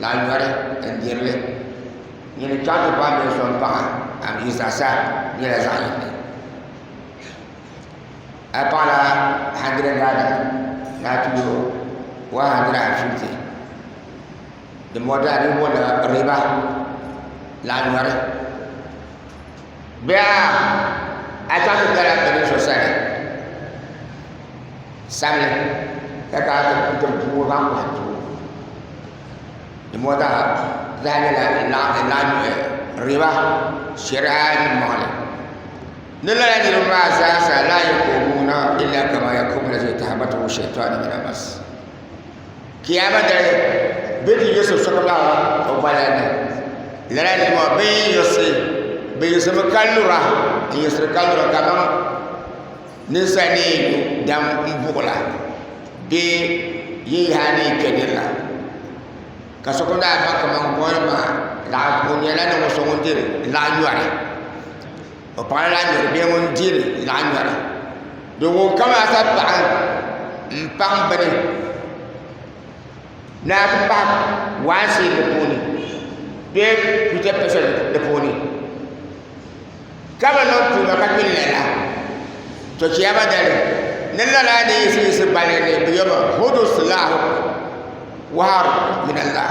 Laa nyɔri n-diri li. Nyini ni chaŋ ti paai nir so m-paɣi a mi yi zaɣisa nyɛla zaɣ yini. A yi paɣila handirɛd naira ni a ti yo wan handirɛd ɛn fifti, dimbɔŋɔ dina di ni booni riba, laa nyɔri. Bihi a chaŋ ti kala bɛ ni so sani sabili ka ka ti puhi zaŋ kɔhi doo di mɔɣu zaa zaa nyɛla laɣinɔhi riba shɛri'a mɔɣili ni lala niriba maa zaa sa laa yukoobuuna illa kama yakubu lazi tahabatu shɛtɔni mina mas Kiyaama dali bɛ ni yi so sokam la o gbaya ni lala nima bɛ yiɣisi bɛ yiɣisimi ka lura n yiɣisiri ka lura ka man ninsal ni yi lu dam n buɣula bee yi yaha ni yi kpɛ dini la ka sokam daa baŋ ka man bolli maa o nyɛla ninvuɣu so ŋun diri laɣa yɔri O paɣa lahi nyɛri bee ŋun dihili lahi nyɛra do ŋun kam ata paɣa n paŋ bini naa ti pahi waansi di puuni bee picha picha di puuni ka bi niŋ tuuma ka kpɛ n lala to chɛba dali ni lala ni yiɣisi yiɣisi balli ni bi yɛba hudu silahu wahab minallah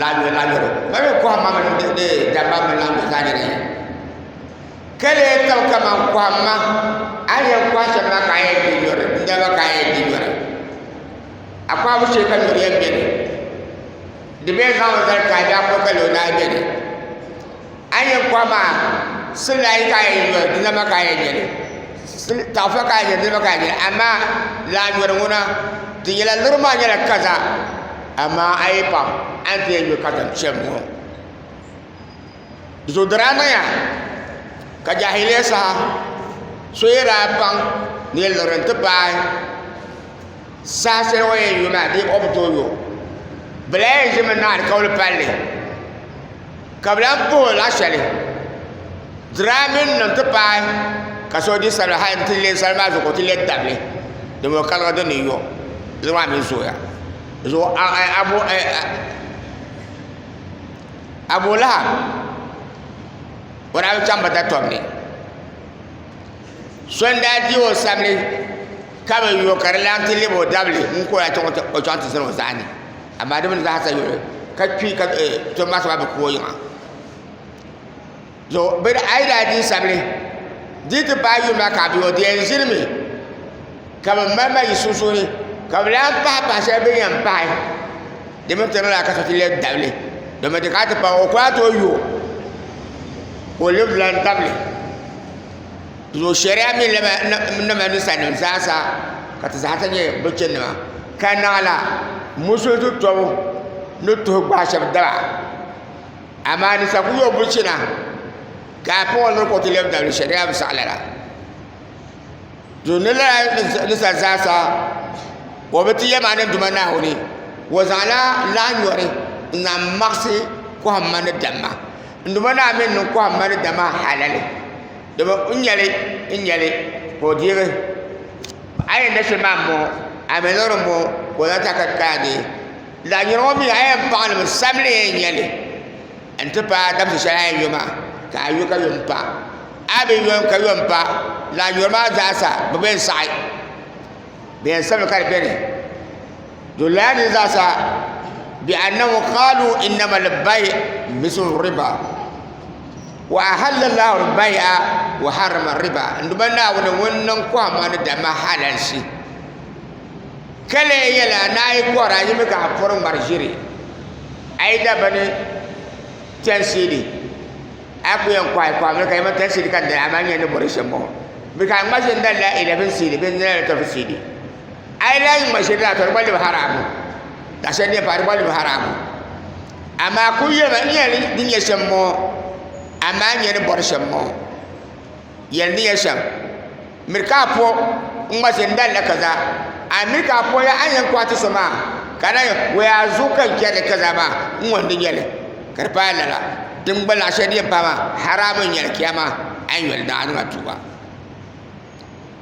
laɣingu laɣingu mali mi kɔhimma mini di damma mini laɣingu zaa nyɛla yini ka lee kam kaman kɔhimma a ni yɛn kɔhi shɛm maa ka a yɛn di nyuri n dama ka a yɛn di nyuri a kɔhibu shee ka nyuri yɛn beni di bee zaŋmi zali ka a daa kɔhi ka lee o daa beni A yi yɛn kɔhi maa silaayi ka a yɛn nyɔri di nama ka a yɛn nyɛli taɣifa ka a yɛn nyɛli di nama ka a yɛn nyɛli amaa laa nyɔri ŋuna di nyɛla luri maa nyɛla kaza amaa a yi paɣi a ni ti yɛn nyɔ katiŋ shɛm ŋɔ di zuɣu di daa niŋya ka jaahiliya saha so yi daa baŋ ni luri n-ti paai Saha shɛli o ni yɛn yo maa dee o bi tooi yo bi lahi yɛn ʒimi niŋ alikauli palli ka bi lahi puhi o lahi shɛli diraamin nim ti pahi ka so di salima hali n ti lɛ salima maa zuɣu ka o ti lɛ dabili dama o kaliga dini n yo niraba maa mii zooya Abu lahab o daa bi chɛŋ bi datom ni So n daa di o sabili ka bi yo ka di lan ti lɛbi o dabili n ka o yaa chaŋ o chaŋ ti zani o zaani amaa di mi ni zahasa yuli ka kpi ka tom maa soba bi ku o yiŋa so bini a yi daa di sabili di yi ti paai yuli maa ka a bi yo di yɛn ʒiri mi ka bi mali mali yi sunsuuni ka bi lan pahi pahi shɛli bi ni yɛn pahi di mi tiri lala ka so ti lɛbi dabili domi di kana ti pahi o ku daa tooi yo ka o lɛbi lan dabili zuɣu shɛriya mini nama ninsal nim zaa sa ka ti zaa sa nyɛ bi chɛni nima ka naɣala musulim zuɣu tɔbu ni tuhi gbaai shab daba amaa ninsal kuli yooi bi chɛna ka afa ŋɔ niri ka o ti lɛbi dabili shɛriya bi saɣi lala zuɣu ni lala ninsal zaa sa o bi ti yɛ maa ni duma Naawuni o zaŋla lahi nyɔri n zaŋ maɣasi kohamma ni damma Nduba naa mini niŋ kɔhimma ni dama halali domi n nyɛli n nyɛli ka o deegi a yɛn da shɛli maa m-bɔŋɔ a mi loori m-bɔŋɔ ka o zaŋ ti a ka ti kana deei lala nyɔri ŋɔ mi a yɛn paɣi li mi sabili yɛn nyɛli n-ti paai dabisi shɛli a yɛn yo maa ka a yo ka yo m-pa a bi yo ka yo m-pa lala nyɔri maa zaasa bɛ bi yɛn saɣi bɛ yɛn sabigi ka di beni Doliya ni zaasa bi annahu qaalu innama al-bay' mithlu riba wa ahalla Allahu al-bay'a wa harrama riba n duma Naawuni ŋun niŋ kɔhimma ni damma halalsi ka lee yɛla ni a yi kɔhiri a yimi ka a pɔri ŋmari ʒiri a yi da bini tɛnsiidi a ku yɛn kɔhi kɔhimmi ka yɛma tɛnsiidi ka n dali amaa nyɛ ni bɔri shɛm bɔŋɔ mi ka a ŋma ʒini dali la 11 siidi bee 12 siidi A yi lahi yi ma shɛli la ka di gba libi haraamu ka shɛli nyɛ pa di gba libi haraamu amaa ku yɛli ma nyɛli ni nyɛ shɛm ŋɔ amaa nyɛ ni bɔri shɛm ŋɔ yɛli ni nyɛ shɛm miri ka a po n ŋma shɛli n dali la kaza a miri ka a po la a yɛn kɔhi ti so maa ka na yɛn wɛ a zuɣu ka n chɛri li kaza maa n ŋɔ n di nyɛli ka di paai lala din gba lahi shɛli din paai maa haraamu n nyɛli kiyama a yi nyɛli daadama tuuba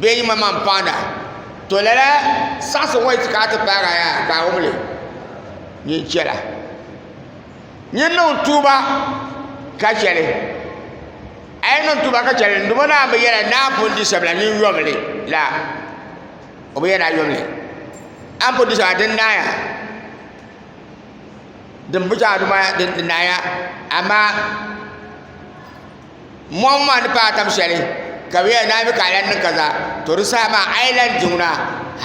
bee yi ma maŋ paanda to lala saɣasi ŋɔ yiti ka a ti paagi a yaa ka a wumli nyin chɛla nyin niŋ tuuba ka chɛli a yi niŋ tuuba ka chɛli n duma naa bi yɛla naa pun di sabila nyin yomli la o bi yɛda yomli a ni pun di sabila din naaya din bi chɛ a duma din naaya amaa Mɔɣu maa ni paai tam shɛli ka bɛ yɛli naai mi ka a lan niŋ kaza to di saha maa a yi lan diŋ na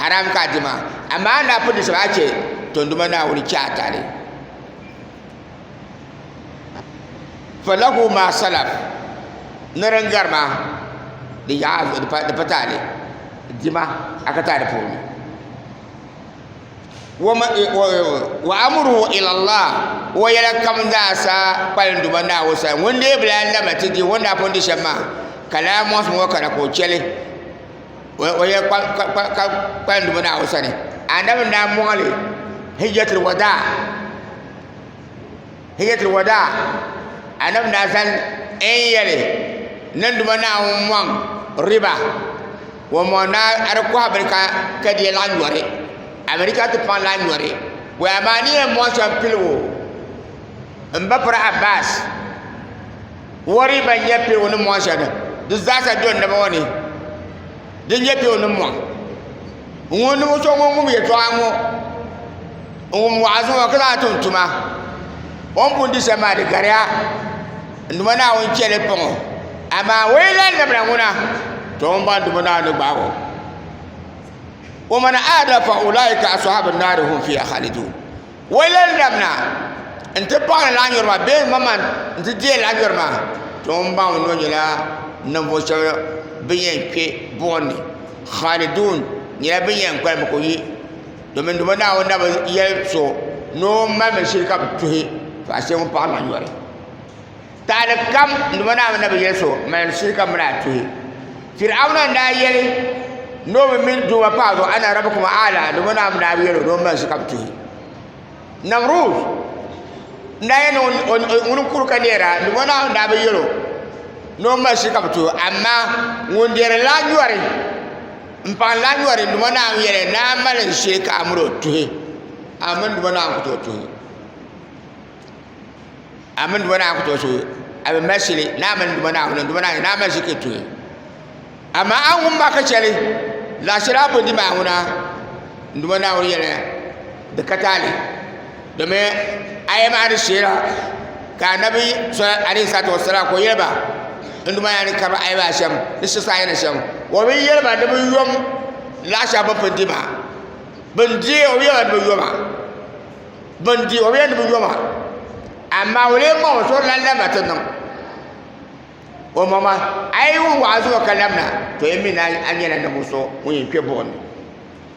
haram ka a di maa amaa a ni daa pun di shɛm a chɛ tonduma Naawuni chɛ a tahili falahu ma salaf ni din gari maa di pa tahili dima a ka taai di puuni wa amruhu ila Allah o yɛla kam zaa sa kpalim duma Naawuni sani ŋun dee bi lahi labila ti dihi o ni daa pun di shɛm maa ka lala mɔɣisi ŋɔ kana ka o chɛli o yɛla kpalim duma Naawuni sani anabi n-daa mɔɣili hijjatul wadaa hijjatul wadaa anabi na zani n yɛli nanduma naawuni mɔŋ riba o mɔŋ na di kɔhi bini ka ka di yɛn lahi nyɔri amarika ti paŋ lahi nyɔri bɔya maa ni yɛn mɔŋ shɛm piligu n ba piri abbas o riba n nyɛ piligu ni mɔŋ shɛm di zaasa do n naba ŋɔ ni di nyɛ piligu ni mɔŋ ŋun ni ŋun so ŋun ŋun yɛtɔɣa ŋɔ n wum wa'azi ŋɔ ka lahi tum tuma o ni pun di shɛm maa di gariya n dumo Naawuni chɛ li pɔŋɔ amaa o yi lan labina ŋuna to ŋun bɔŋ dumo Naawuni ni gbaag o wa man aada fa ulaika ashabu nnaari hum fiha khalidun o yi lan labina n ti paɣi ni lahi maa bee maman n ti deei lahi nyɔri maa to ŋun baŋ o noo nyɛla ninvuɣ shɛba bin yɛn kpe buɣim ni khalidun nyɛla bin yɛn kpalim ka o yi domin ndimo naawuni na bi yɛli so ni o malimi shili ka bi tuhi paɣa shɛli ŋun paɣa maa nyɔri taali kam ndimo naawuni na bi yɛli so malimi shili ka mini a tuhi firawuna n daa yɛli ni o bi mini doo ŋɔ paɣa zuɣu ana rabi kuma ala ndimo naawuni daa bi yɛli o ni o mali shili ka bi tuhi namrud n daa yɛli ŋuni n kuri ka neera ndimo naawuni daa bi yɛli o ni o mali shili ka bi tuhi amaa ŋun dɛri laa nyɔri M paŋ lahi yɔri Duuma Naa n yɛli, Naa n mali n shee ka a miri o tuhi, a mini Duuma Naa n ku tooi tuhi. A mini Duuma Naa n ku tooi tuhi, a bi mali shili, naa mini Duuma Naa ŋun Duuma Naa yɛli, naa mali shili ka tuhi. Amaa a ŋun ma ka chɛli, laɣ shɛli a bo di maa ŋuna, Duuma Naa ŋun yɛli, di ka taali. Domin a yi maani shɛla ka Annabi alayhi salatu wassalam ka o yɛli ba n duma yaa ni ka a yi maa shɛm ni shɛ saa yɛli shɛm o bi yɛli ba ni bi yom laɣa shɛli bi pun di maa bin di o bi yɛli ba ni bi yoma bin di o bi yɛli ni bi yoma amaa o lee maŋ o suhu lan lamina ti niŋ o maŋ ma a yi wum wa'azi ŋɔ ka lamina to yi mi ni a nyɛla ninvuɣu so ŋun yɛn kpɛ buɣim ni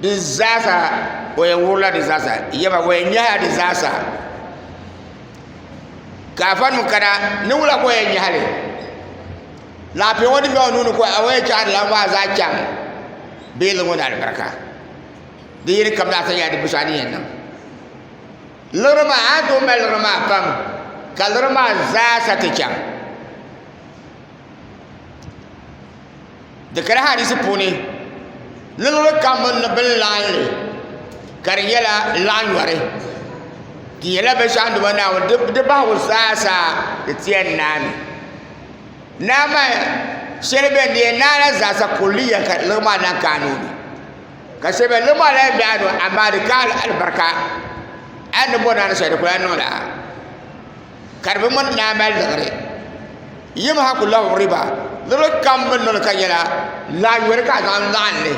Di zaasa o yɛn wuhurila di zaasa yɛba o yɛn nyɛla di zaasa ka afa nim kana niŋwula ka o yɛn nyɛhali laafee ŋo din bɛ o nuuni ka o yɛn chɛhari la maa zaa chɛŋ bee di ŋo ni alibarika di yini kam laata nyɛla di busaa ni yɛn niŋ liɣiri maa a ni tooi mali liɣiri maa pam ka liɣiri maa zaasa ti chɛŋ di kana hadisi puuni niriba kam ban ni bin laɣim li ka di nyɛla laɣ nyɔri di nyɛla binshɛɣu ni di bɔni Naawuni di bahigu zaa sa di ti yɛn naai naa maa shɛli bɛn di yɛn naai la zaa sa kulliya ka liɣiri maa lahi kaai ni o di ka shɛli bɛn liɣiri maa lahi bɛ a ni o amaa di kaai alibarika a ni bɔri naani shɛli di kuli lahi niŋ la ka di bi ŋmani ni a mali liɣiri yim ha ku lahi wuhiriba luɣuli kam bi ni niŋ ka nyɛla lahi yoli ka a zaŋ laɣim li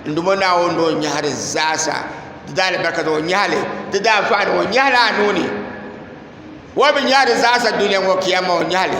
n dum o Naawuni ni o nyɛhiri zaasa di daa alibarika ni o nyɛhili di daa anfaani ni o nyɛhili a nuu ni o ni bi nyɛhiri zaasa dunia ŋɔ kiyama o nyɛhili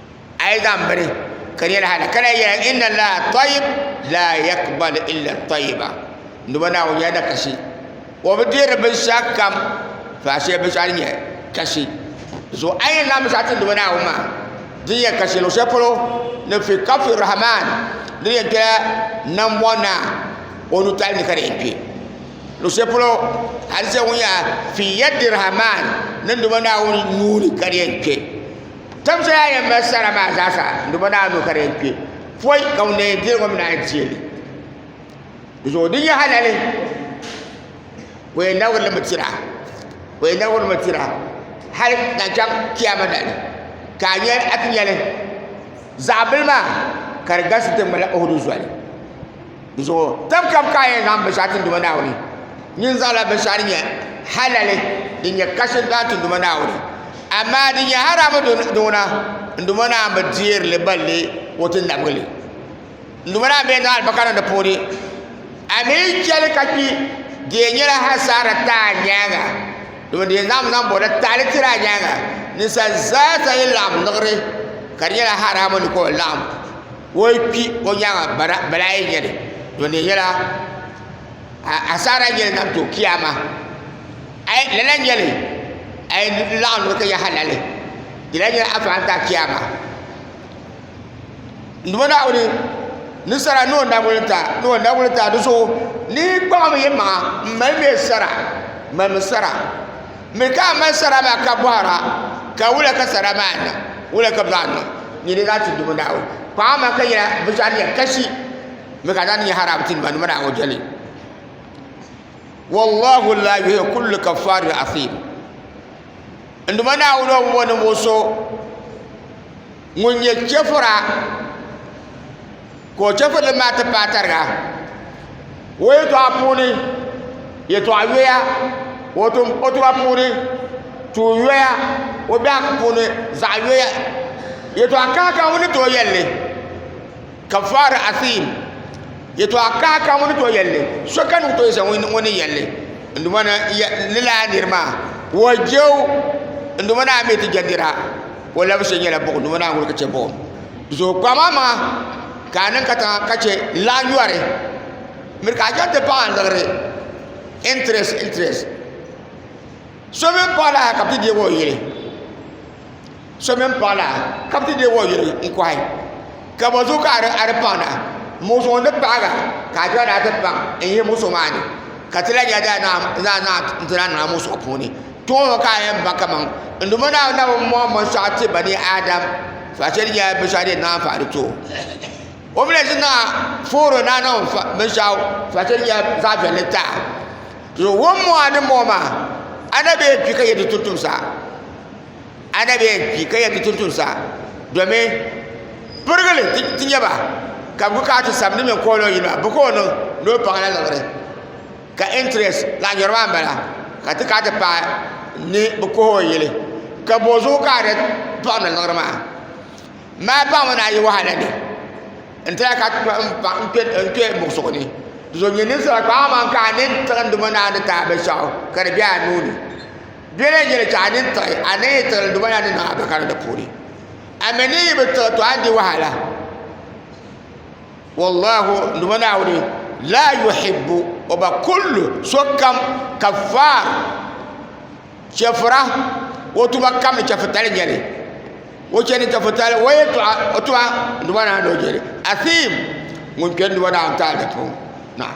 a yi zaŋ bini ka di yɛli hali ka lahi yɛli inna allaha tɔyib la yakbal illa tɔyiba nduba naawuni nyɛla da kasi o bi dihiri binshaɣu kam faashee binshaɣu din nyɛ kasi zuɣu a yi yɛn zaŋ binshaɣu ti nduba naawuni maa din yɛn kasi luɣu shɛli polo ni fi kafi rahman di ni yɛn kpela nambɔɣu naa o nutali ni ka di yɛn kpɛ luɣu shɛli polo hali sɛla ŋun yɛn fi yɛddi rahman ni nduba naawuni nuuni ka di yɛn kpɛ Tam soya yɛn mali sara maa zaa sa n duma daa nuu ka di yɛn kpɛ pɔi ka ŋun na yɛn deeri ŋɔ mi naan deeli di zuɣu di nyɛ halali o yɛn na wurili mi tira o yɛn na wuri mi tira hali ka chaŋ kiyama na ni ka a nyɛ a ti nyɛli zaɣa bili maa ka di galisi ti ŋmani ohudu zoli. Di zuɣu tam kam ka a yɛn zaŋ binshɛɣu ti Duuma Naawuni. Nyin zaŋla binshɛɣu din nyɛ halali, din nyɛ kasi dɔɣi ti Duuma Naawuni. Amaa din nyɛ haramu duŋna, n Duuma Naawuni bi deeri li balli o ti nabigi li. N Duuma Naawuni bee zaŋ alibaka niŋ di puuni. A mi chɛli ka kpi, di yɛn nyɛla hasaara ti a nyaaŋa, domin di yɛn zaŋmi zaŋ bɔri la taali tiri a nyaaŋa. Ninsal zaa sa yi laɣim liɣiri, ka di nyɛla haramu ni ka o laɣim. o yi kpi o nyaanga balaa yɛn nyɛli to di nyɛla asaara n nyɛli to kiyaama lala n nyɛli a yi laɣam nira ka nyɛ halali di lahi nyɛla afa n taɣi kiyaama n duma naawuni ninsal noo naawuni n ta dizuɣu ni yi kpaɣam yi maŋa n mali mɛ sara Mi ka a mali sara maa ka bɔhir a, Ka wula ka sara maa niŋ? Wula ka baa niŋ? Nyini n-daa ti dubu Naawuni. Kpaŋ a maŋ ka nyɛla bɛ zaa nyɛ kashi, mi ka daa ni nyɛ haraam ti nimaŋnima ni a ŋɔ jɛli. Wallahu la yuhibbu kulli kaffaarin asiim. N Duuma Naawuni o bi bo ninvuɣ so ŋun nyɛ chɛfura ka o chɛfurili maa ti paai tariga o yɛltɔɣa puuni yɛltɔɣa yoya o tuma puuni tuun yoya o biɛhagu puuni zaɣ yoya yɛltɔɣa kaha kaha ŋuni n tooi yɛlli kafaara asiim yɛtɔɣa kaha ka ŋuni tooi yɛlli so ka ŋuni tooi zaŋ ŋuni yɛlli n duma na lala a niri maa ka o jɛu n duma na a mi ti jɛ nira o labi shɛli nyɛla buɣum duma na a ŋuni ka chɛ buɣum zuɣu kpama maa ka a niŋ katiŋa ka chɛ n lahi yɔri miri ka a chaŋ ti paɣi n liɣiri interest interest so mi paɣi la ka bɛ ti deei o yili so mini paɣa la ka bi ti deei o yuli n kohi ka bi zuɣu ka a di paŋ na muɣisi ŋun ni paɣaga ka a dɔɣi ni a ti paŋ n yihi muɣisi maa ni ka ti lahi nyɛ daa naa n ti lahi niŋ a muɣisi ŋɔ puuni ti ŋɔ mi ka a yɛn baŋ kamaŋ n Duuma Naawuni Naawuni mɔŋ binshɛɣu ti bani Adam zaɣa shɛli nyɛla binshɛɣu din naanyi fahiri di tooi o mi lahi ʒini na fooro ni a niŋ binshɛɣu zaɣa shɛli nyɛla zaɣa viɛlli taɣi to wɔnmɔŋ a ni mɔŋ maa a na bɛ yɛn kpi ka yɛn ti tuhi tumsa. a na bee kpi ka yɛn ti tum tuun sa domin pirigili ti nyɛ ba ka bi kana ti sabigi ni bi kooni o yili maa bi ka o niŋ ni o paŋ la liɣiri ka intirɛs zaɣ yini maa n bala ka ti kana ti paai ni bi kohi o yili ka bozuɣu ka a ni paɣamdi liɣiri maa mali paɣaba ni ayi wahala ni n ti lahi ka n kpɛ n muɣisigu ni dinzuɣu nyɛ ninsal kpaa aman ka a ni tiɣindi ŋɔ ni a ni taai binshaɣu ka di bɛ a nuuni Bela n yeli tɔɣa din tiɣi a ni yi tiɣili duma la ni niŋ a bakara di puuni. A mi ni yi bi tiɣi tɔɣa di wahala. Wallahu duma Naawuni la yuhibbu o ba kullu sokam kafaar chɛfura o tuma kam ni chɛfutali nyɛli o chɛni chɛfutali o yɛltɔɣa o tuma duma Naawuni o jeli asiim ŋun kpɛri duma Naawuni taali di puuni. Naam.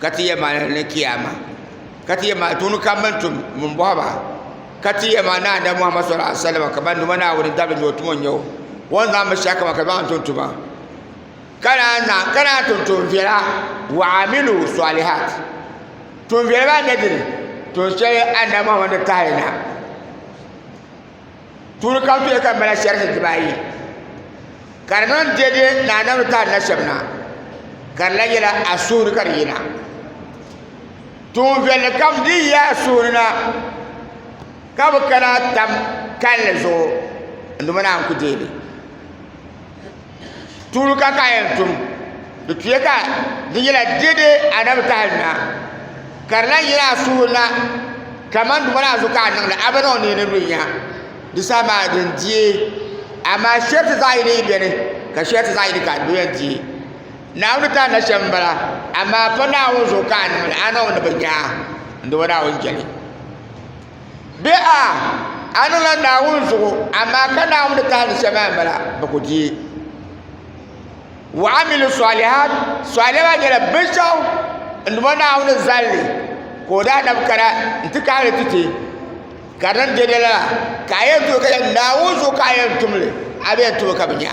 ka ti yɛ ma ni kiyama ka ti yɛ ma tuuni kam mani tum mun bɔhi ba ka ti yɛ ma naa da muhammad sallallahu alaihi wasallam ka ban duma naa wani dabili ni o tumo nyɛ o wọn zaŋ bi shɛli kama ka zaŋ tum tuma ka naan na ka naan tum tum viɛla wa amilu salihat tum viɛla maa nyɛ dini tum shɛli annabi muhammad ni tahi na Tuuli kam tuya ka mala shɛrisi dibaayi ka di niŋ deedee ni anabi ni taali na shɛm na ka di la yɛla a suhuri ka di yina tuun viɛlli kam din yi a suhuri na ka bi kana tam kanli zuɣu n duma na n ku deei Tuuli ka ka yɛn tum di tuya ka di nyɛla deedee anabi taha nina ka di lahi yina a suhu na kamani duma maa zuɣu ka a niŋda a bi niŋ ni di lu n nya di saha maa din diɛ amaa shɛriti zaɣ yini yi biɛni ka shɛriti zaɣ yini ka di yɛn diɛ naawuni ni tandi shɛm n bala amaa pa naawuni zuɣu ka a niŋli a niŋmi ni bi nya n doomi naawuni jɛli Bɛ a, a niŋla Naawuni zuɣu, amaa ka Naawuni tahindi shɛm maa m-bala, bɛ ku di. Wa amilu sɔlihat, sɔlihat maa nyɛla binshɛɣu n-duma Naawuni zalli ka o daa nabi kana nti kahi li ti ti, ka din be di lala ka a yɛn tooi ka yɛli Naawuni zuɣu ka a yɛn tum li, a bi yɛn tum li ka bi nya.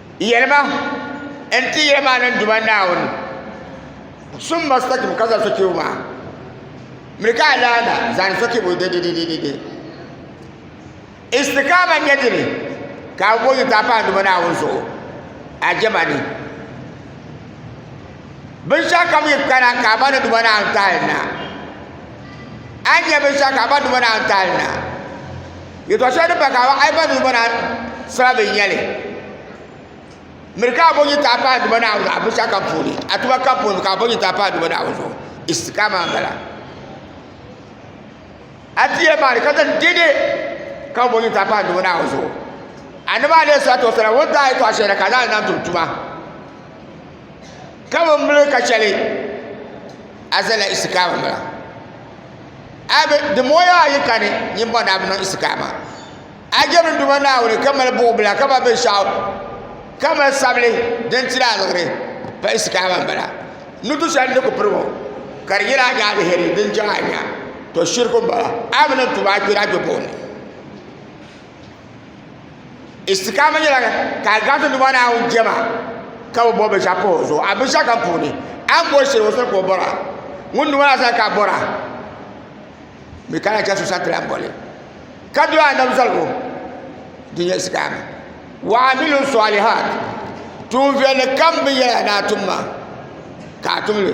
Yɛlima n ti yɛli maa ni Duuma Naawuni sum mustaqim ka zali sochirigu maa miri ka alaana zaani sochirigu dedededede. Istiqaama n-nyɛ dini ka a bo yintaa pahi Duuma Naawuni zuɣu a jɛma ni. Binshɛɣu kam yi kana ka a ba ni Duuma Naawuni tahili na, a ni nya binshɛɣu ka a ba ni Duuma Naawuni tahili na. Yɛtɔɣ shɛli din pa Kaaba ayima duu ŋɔ naan sara bɛ nyɛli miri ka a bo nyintaa pahi Duuma Naawuni zuɣu a binshɛɣu kam puuni a tuma kam puuni ka a bo nyintaa pahi Duuma Naawuni zuɣu istikama n bala a ti yɛn maani ka zaŋ dɛde ka bo nyintaa pahi Duuma Naawuni zuɣu annabi alayhi salatu wasalam o ni daa yɛtɔɣ shɛli na ka a zaŋ li zaŋ tum tuma Ka bi mili ka chɛli a zala isikaama mila a bi di mɔya ayi kani nyin bɔna a bi niŋ isikaama a jɛmini Duuma Naawuni ka mali buɣubila ka mali binshɛɣu ka mali sabili din tiri aliɣiri pa isikaama m-bala ni du shɛli ni ku piri ŋɔ ka di nyɛla a ni aliheri din chaŋ a nya to shiriku m-bala a mi niŋ tuuma a kpɛri a kpɛbuɣim ni istikaama nyɛla ka a gaŋti Duuma Naawuni jɛma ka bi bɔri binshɛɣu pa o zuɣu a binshɛɣu kam puuni a ni bɔri shɛli o sani ka o bɔra ŋuni Duuma Naa sani ka a bɔra mi ka lahi chɛ so sani ti lahi bɔli ka doli annabi zaligu din nyɛ istikaama wa amilu sɔlihaat tuun viɛlli kam binyɛra ni a tum maa ka a tum li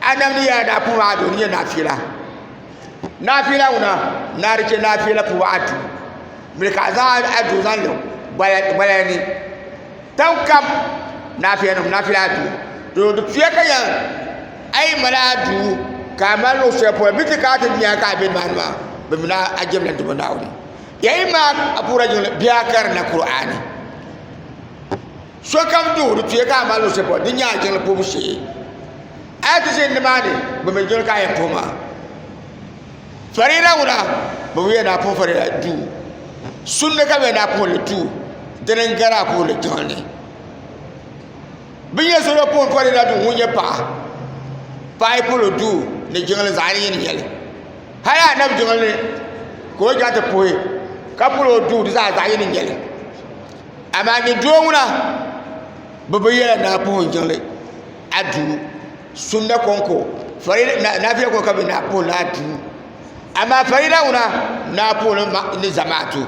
Adam ni yaa daa puhi a doo ni nyɛ naafila naafila ŋuna naa di chɛ naafila puhi a duu mili ka a zaŋ a duu zaŋ niŋ gbaya ni tan kam naafila nim naafila a duu doo di tuya ka yan a yi mali a duu ka a mali luɣu shɛli polo bi ti ka ti dunia ka a bɛ maa maa bi mini a jɛmla dubu naawuni ya yi maa a puhila jiŋli bihi a karinla Kur'ani Sokam duɣiri tuya ka a mali luɣushɛli polo din nyɛ a jiŋli puhibu shee. A yi ti ʒini nimaani, bɛ mi doli ka a yɛn puhi maa. Fariida ŋuna, bɛ bi yɛn daa puhi Fariida duu. Sunde ka bɛ yɛn daa puhi li duu. Dini n-gari a puhi li jiŋli ni. Bɛ ni yɛn so daa puhi Fariida duu ŋun nyɛ paɣa. Paɣa yi puhi li duu ni jiŋli zaɣ yini yini nyɛ li. Hali a nabi jiŋli ni ka o chaŋ ti puhi ka puhi li o duu di zaa zaɣ yini n-nyɛ li. Amaa nyɛ doo ŋuna bi bi yɛla naa puhun jiŋli a duu sunna konko naafiya konko ka bi naa puhi ni a duu amaa farida ŋuna naa puhi ni zamaatu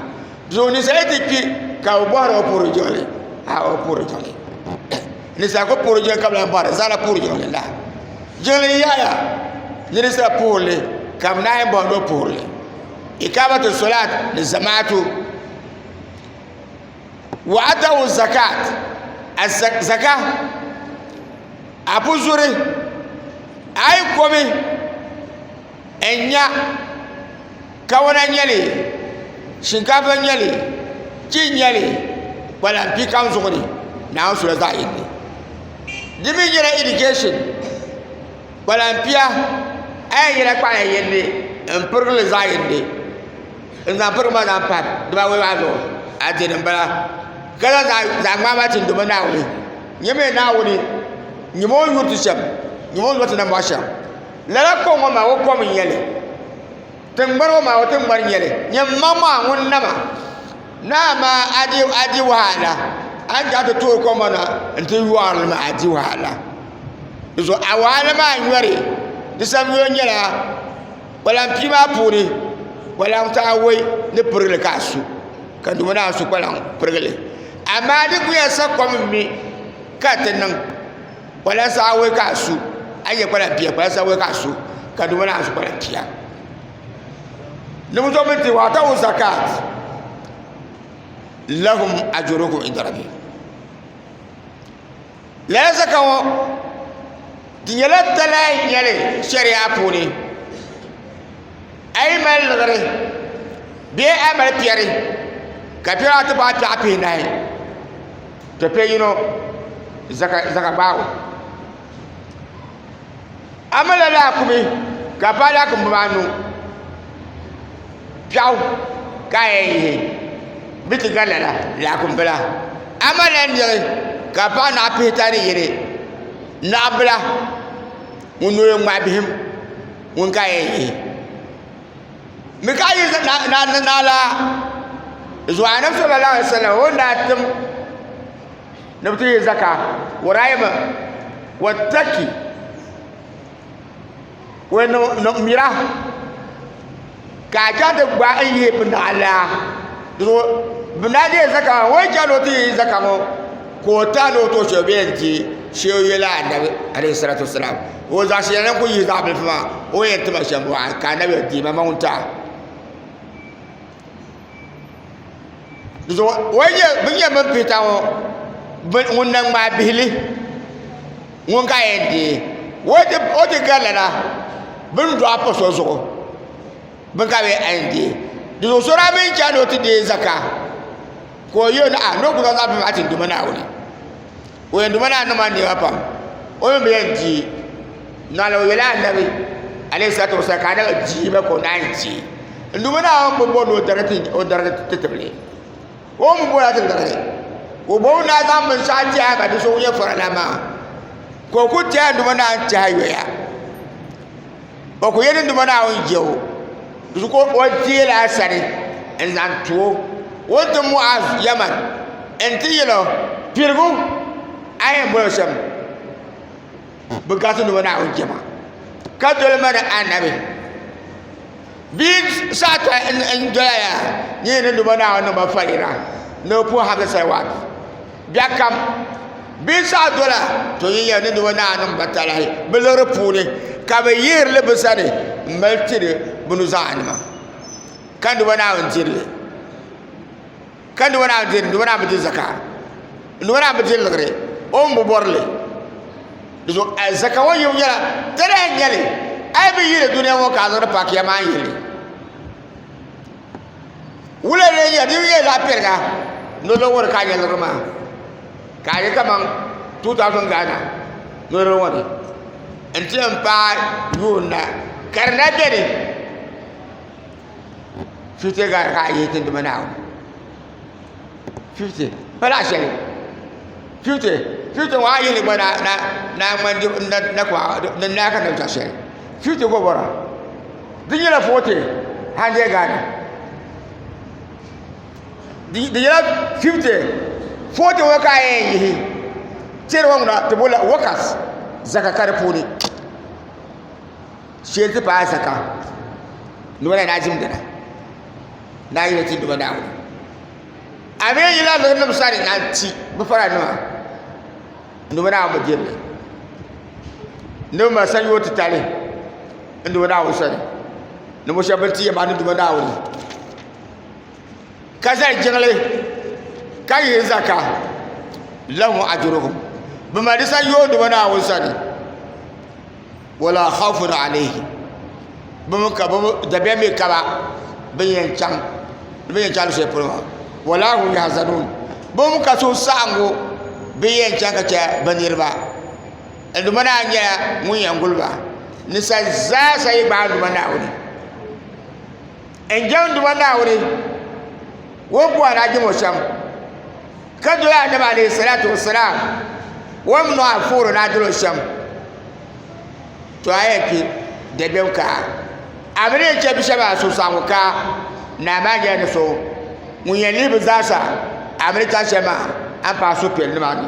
doo ninsal ti kpi ka bi bohari o puhuri jiŋli a o puhuri jiŋli ninsal ku puhuri jiŋli ka bi lahi bohari zaŋ na puhuri jiŋli la jiŋli n yɛliya ni ninsal puhurili ka bi naan yɛn bohari ni o puhurili ikaamatu solaat ni zamaatu wa atawu zakat zaka a bi zuri a yi komi n nya kawana n-nyɛ li shinkaafa n-nyɛ li ti n-nyɛ li kpalan bia kam zuɣu ni naawuni sula zaɣ yini ni di mi nyɛla irigɛshin Kpalampia a yɛn yɛla kpalaŋ yindi n pirigili zaɣ yindi n zaŋ pirigi maa zaŋ pa dibawoi maa zuɣu adiini n bala ka zaŋ zaɣ ŋmaa maa tim dibaa naawuni n nyɛmi Naawuni nyumo ni yuui ti shɛm nyumo ni yuui ti na mɔɣu shɛm lala kom ŋɔ maa o kom n nyɛli Tiŋgbani o maa o tiŋgbani nyɛli nyɛ mmaŋ maa ŋun nama naa maa a di wahala a ni daa ti tooi kom maa na n ti yɔɣari li maa a di wahala di zuɣu a wahala maa nyɔri di samyuya nyɛla kpalaŋ pia maa puuni kpalaŋ taawei ni pirigili ka a su ka di ŋɔ ni a su kpalaŋ pirigili amaa di ku yɛn sa kom n mi ka ti niŋ kpala saaway ka a su a yɛ kpala pia kpala saaway ka a su ka di ŋmana a su kpala pia niŋ so mi ti wa ta wu zakat lahum ajurukum inda rabbi lala zaka ŋɔ di nyɛla talahi nyɛli shɛriya puuni a yi mali liɣiri bee a mali piɛri ka piɛri ata paai piɛɣu pihi nahi to kpɛ yino zaka gbaagu a mala laakumi ka a paai laakumi bibaa anu piɛɣu ka a yɛn yihi n bɛ ti gari lala laakumi bila a malla niɣi ka a paɣi naɣa pihita ni yini naɣa bila ŋun noo yɛn ŋmahi bihim ŋun ka a yɛn yihi mi ka a yi naa ni naa la zuwa anabi sallallahu alaihi wasallam o ni daa tim ni bi ti yi zaka wuraayi mi wattaki o yɛn niŋ mira ka a chaŋ ti gba n yihi bi naa la bi naa deei zaka maa o yɛn chaŋ ni o ti yi zaka ŋo ka o taɣi ni o too shɛli o bɛ yɛn di shee o yɛla anabi alayhi salatu wasalam ka o zaɣ shɛli lahi ku yihi zaɣ bilifu maa o ni yɛn tiba shɛm maa ka anabiya deei ma maŋ n-ti a di zuɣu bin yɛn mini piita ŋɔ ŋun na ŋmaa bihili ŋun ka yɛn deei o ti ga lala bin dɔɣi pa so zuɣu bin ka bee a yɛn deei di zuɣu so daa mi ni chaŋ ni o ti deei zaka ka o yuli ni a ni o ku zaŋ zaɣ bilifu maa ti n-duhi ma Naawuni ka o yɛn duma naa niŋ maa niɛma pam o mii bi yɛn deei naa la o yɛla anabi alayhi salatu wa salaam ka anabi deei ba ka o naan deei n duma naa o ni bɔri ni o darigi ti tibili o ni bɔri a ti darigi ka o bo o naa zaŋ binshaɣu tɛha ka bia so ŋun nyɛ farala maa ka o ku tɛha n duma naa n tɛha yoya o ku yɛli nduma Naawuni je o zuɣu ka o deei a sani n-zaŋ ti o o ni ti Muaz Yaman nti yɛl o, Piligu a yɛn bol o shɛm bɛ gariti nduma Naawuni jɛma ka doli ma ni Annabi bee saha tɔha n-doya yaa nyɛ ni nduma Naawuni niŋ ma faliŋa ni bɛ puhi Hamza Salawat. Biɛkam bɛ saha dola to yi yɛli ni di wa ni a niŋ ba talahi bɛ liɣiri puuni, ka bɛ yihiri li bɛ sani m-mali tiri bɛ nuzaaninima. Ka n-di ba Naawuni diri li. Ka n-di ba Naawuni diri li, n-di ba Naawuni bi di zaka. N-di ba Naawuni bi di liɣiri, o mi bi bɔri li. Di zuɣu a zaka ŋɔ yibu nyɛla talahi n-nyɛ li, a yi bi yihi li dunia ŋɔ ka a zaŋdi paaki ya maa n-yihi li. wula n-lee nyɛ din nyɛ zaɣ piɛlli la nolɔŋ ŋɔ ni ka a nya niriba maa ka a nya kaman 2000 Ghana nolɔŋ ŋɔ ni n-ti yɛn paai yuun na ka di na beni 50 Ghana ka a yihi tinduma Naawuni 50 pala shɛli 50 50 ŋɔ a yi ni gba na na na ŋmani di na na kɔɣa ni naa ka nabi chaŋ shɛli 50 gba bɔra di nyɛla 40 100 Ghana di di nyɛla 50 40 ŋɔ ka a yɛn yihi tɛri ŋɔ ŋuna ti bolila workers zaka ka di puuni shɛli ti paai zaka noba la ni a ʒim dini daa yina ti duba Naawuni a mi yila luɣinim sani na ti bi fara nima n duba Naawuni bi dirili ni bi mali sanyo titali n duba Naawuni sani ni mo shɛba bin ti yɛn bahi ni duba Naawuni ka zali jiŋli ka yihi zaka lahum ajuruhum bi mali di sanyo duba Naawuni sani wala khawfun alayhi bim ka bim dabiɛm mi kaba bin yɛn chaŋ ni bin yɛn chaŋ shɛli polo maa wala hum yahzanun bim ka so saɣangu bin yɛn chaŋ ka chɛ bi niriba nduma naa nyɛla ŋun yɛn guli ba ninsali zaa sa yi gbaai nduma naawuni N jɛmdiba Naawuni, ŋun ku anahi jɛmo shɛm, ka doli Annabi alayhi salatu wassalam, ŋun mi nɔhi fuhiri ni a dolo shɛm, to a yɛn kpi dabiɛm ka a mi ni yɛn chɛ bi shɛba suhusaɣiŋgu ka naa maa nyɛla ni so ŋun yɛn lihi bi zaa sa a mi ni chaŋ shɛli maa a ni paai suhupiɛlli nima ni.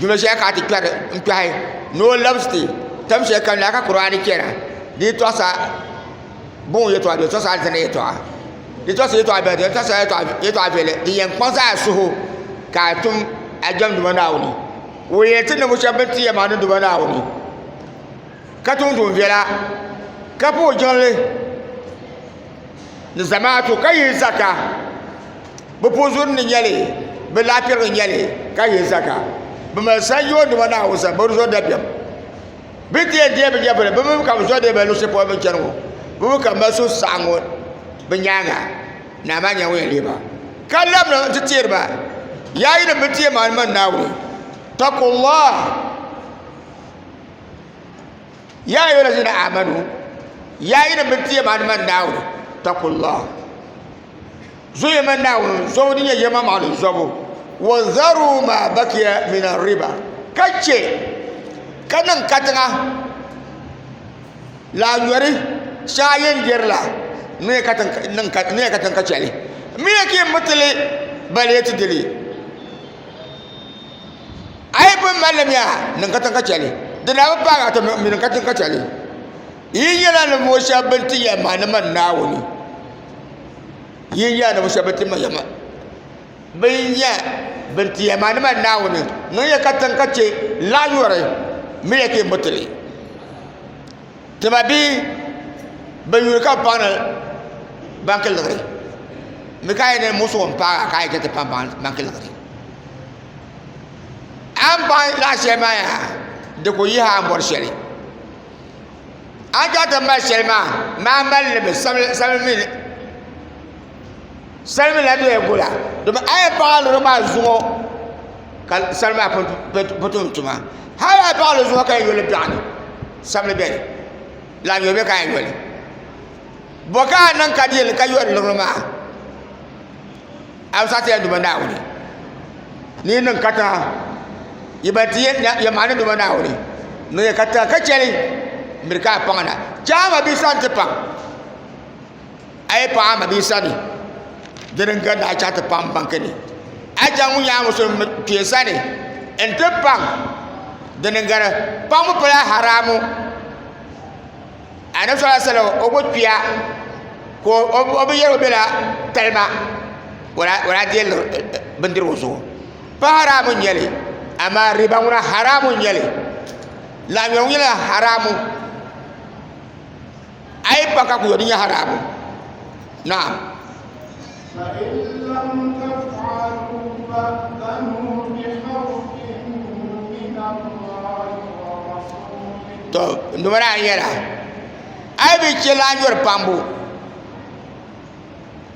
duno shɛli ka a ti kpɛri n kpɛhi ni o labisi ti tam shɛli ka naa ka kuraani chɛna di yi tɔɣisa buŋ yɛtɔɣa di tɔɣisa alizanda yɛtɔɣa di tɔɣisa yɛtɔɣa biɛhigu di tɔɣisa yɛtɔɣa viɛlli din yɛn kpaŋ zaa suhu ka a tum a jɛmdima Naawuni ka o yɛn ti ninvuɣu shɛba bin ti yɛn maa niŋdima Naawuni ka tum tuun viɛla ka puhi jiŋli ni zamaatu ka yihi zaka bi puzuri ni nyɛli bi laapirili nyɛli ka ye zaka bi mali sanyo nima na o sani bi zo dabiɛm bi diɛ diɛ bi nyɛvili bi mi ka bi zo diɛ bi luɣushɛli polo bi chɛni ŋɔ bi mi ka mali so saɣam ŋɔ bi nyaanga naa maa nyɛla ŋun yɛn lihiba ka labina n ti teeriba yaa yi ni bi teei maa ni mani naawuni takullah yaa ayyuha allazina amanu yaa yi ni bi teei maa ni mani naawuni takullah zo yɛma Naawuni zobu din nyɛ yɛma maali zobu wa zaru ma bakiya min riba ka chɛ ka niŋ katiŋa laanyɔri shɛŋa yɛn biɛri la n ni yɛ katiŋ ka chɛli n mi yɛ ka yɛn bi ti li bali yɛ ti di li a yi pun mali miya niŋ katiŋ ka chɛli di daa bi paagi a ti mi niŋ katiŋ ka chɛli yi nyɛla ninvuɣu shɛba bin ti yɛn maani man Naawuni yi n yaanima shɛba ti ma yɛma bɛ nya bɛn ti yɛma ni man Naawuni ŋun yɛ katiŋ ka chɛ laɣ yɔri mi yɛ ka yɛn bɔ ti li tima bee bɛn yuli ka bɛ paŋ ni ban ki liɣiri mi ka yɛn niŋ musuɣu m-paag a ka a yɛn chaŋ ti paŋ ban ki liɣiri a ni paŋ laɣ shɛli maa yaha di ku yihi a ni bɔri shɛli a ni chaŋ ti mali shɛli maa maa mali limi salimi mii na doya gola domi a yɛn paɣi a liɣiri maa zuɣu ka salima maa pun tum tuma hali a yi paɣi a liɣiri zuɣu ka yɛn yoli biɛɣu ni sabili bɛ ni lahi nyɔ bɛ ka a yɛn yoli bo ka a niŋ ka di yɛli ka yoli liɣiri maa a bi saɣati ya duma naawuni ni yi niŋ katiŋa yi ban ti ya maani duma naawuni ni yi ka tiŋa ka chɛli n miri ka a paŋa na chɛ a mabihi sani ti paŋ a yi paŋ a mabihi sani dini n gari ni a chaŋ ti paŋ baŋ kini a chaŋ ŋun nyɛ a musu kpee sani n ti paŋ dini n gari paŋbu pala haramu anabi sala salam o bi kpiya ka o bi yɛli o bɛla talima o lahi deei liɣiri bindirigu zuɣu pa haramu n nyɛli amaa riba ŋuna haramu n nyɛli laɣam nyɛbu nyɛla haramu a yi pa ka ku yɔli di nyɛ haramu naam Noba daa yɛra a yi bi chɛ la a nyɔri pambu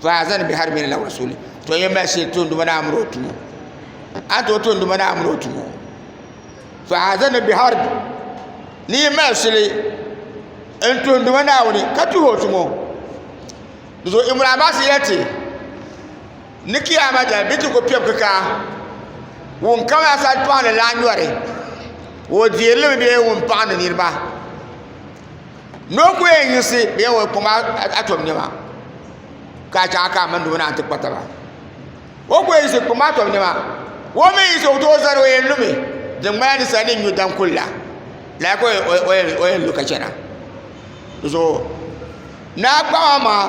faazani bihi hali mini lawurisi ni to yɛn mali shili tuhi noba daa mini o tumo a ni tooi tuhi noba daa mini o tumo faazani bihi hali ni yi mali shili n tuhi noba Naawuni ka tuhi o tumo Dizuɣu Ibn Abbas yɛliti ni Kiyaama dali bɛ ti ku piɛb kikaa ŋun kam asali paɣa ni lahi nyɔri o deerili mi bee ŋun paɣa ni niriba ni o ku yɛn yiɣisi bee ŋun kpaŋ atom nɛma ka a chaŋ a kaai mini di ŋuna a ni ti kpa taba o ku yɛn yiɣisi kpaŋ atom nɛma o mi yiɣisi o tooi zani o yɛn lumi din ŋmanila ninsali ni nyu daŋ kuli la lala ka o yɛn lu ka chana Di zuɣu naa kpaɣi maa maa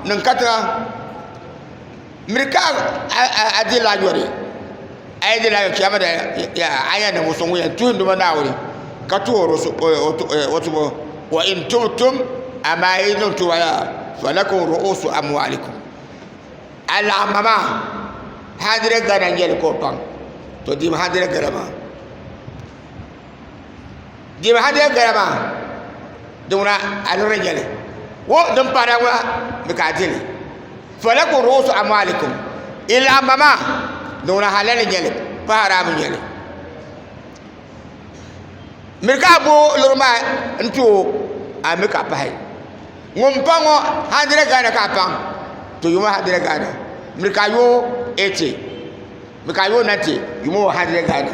niŋ katiŋa n miri ka a di lahi yuri a yi di lahi yuri chɛmi dai a ni yɛn niŋ o suŋ ŋɔ yɛn tuhi n duma naawuni ka tuhiri o tumo wa in tubtum amaa yi niŋ tuma maa falakum ru'usu amwalikum alaɣima maa handirɛd gana n nyɛli ka o paŋ to deemi handirɛd gana maa Deemi ha di yɛn gala maa di ŋuna a niŋdi nyɛli wo din paana ŋuna mi ka a dili falakum ru'usu amwalikum i laɣimba maa di ŋuna halal n nyɛli pa haraam n nyɛli miri ka a bo luri maa n ti o a mi ka a pahi ŋun paŋ ŋɔ hundred Ghana ka a paŋ to yuŋɔ hundred Ghana miri ka a yo eighty mi ka a yo ninety yuŋɔ hundred Ghana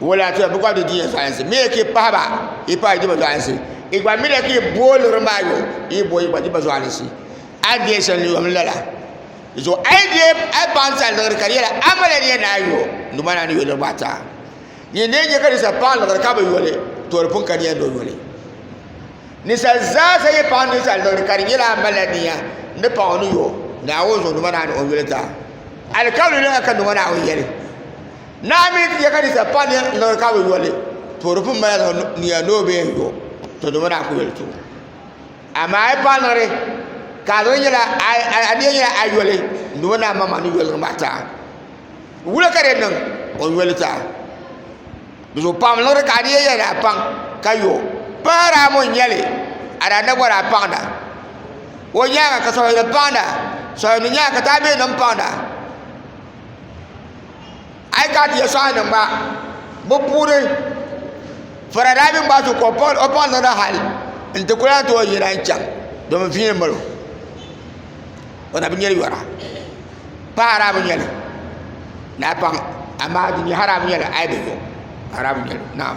wala to bi gba di diya zaansi mi ki pahaba i pahi diba zaansi i gba mi la ki booliri maa yo i bo i gba diba zaansi a diya shɛli yom lala zo a yi diya a paŋ sa liɣiri ka di yɛla a mala diya ni a yo numa na ni yo niriba ata ni ne nyɛ ka di sa paŋ liɣiri ka bi yoli to di pun ka diya ni o yoli ni sa zaa sa yi paŋ ni sa liɣiri ka di nyɛla a mala diya ni paŋ o ni yo ni a wo zo numa na ni o yoli ta alikawuli ni ka numa na o yɛli Naa mi ti yɛ ka ninsal pa ni n liɣiri ka bi yo li, to di pun mali zaŋ niya ni o bee n yo, to dama daa ku yoli tubu. Amaa a yi paai liɣiri, ka a liɣiri nyɛla a niya nyɛla a yoli, n duma naa maŋmaŋ ni yo liɣiri maa ti a. Wula ka di niŋ o ni yo li ti a? Di zuɣu paɣim liɣiri ka a niya yɛli ni a paŋ ka yo. Pahir a mo nya li, a daa na bɔri a paŋda. O nyaaŋa ka sɔhimini paŋda, sɔhimini nyaaŋa ka taambilim paŋda. a yi kana ti yɛtɔɣa niŋ ba bi puuni fara daa mini ba zuɣu ka o paŋ niŋdi hali n ti ku lahi ti o yina n chɛŋ domi viɛli n balo o na bi nyɛri yɔra paɣa a daa bi nyɛli ni a paŋ amaa din nyɛ hali a bi nyɛli a yi bi yo a daa bi nyɛli naam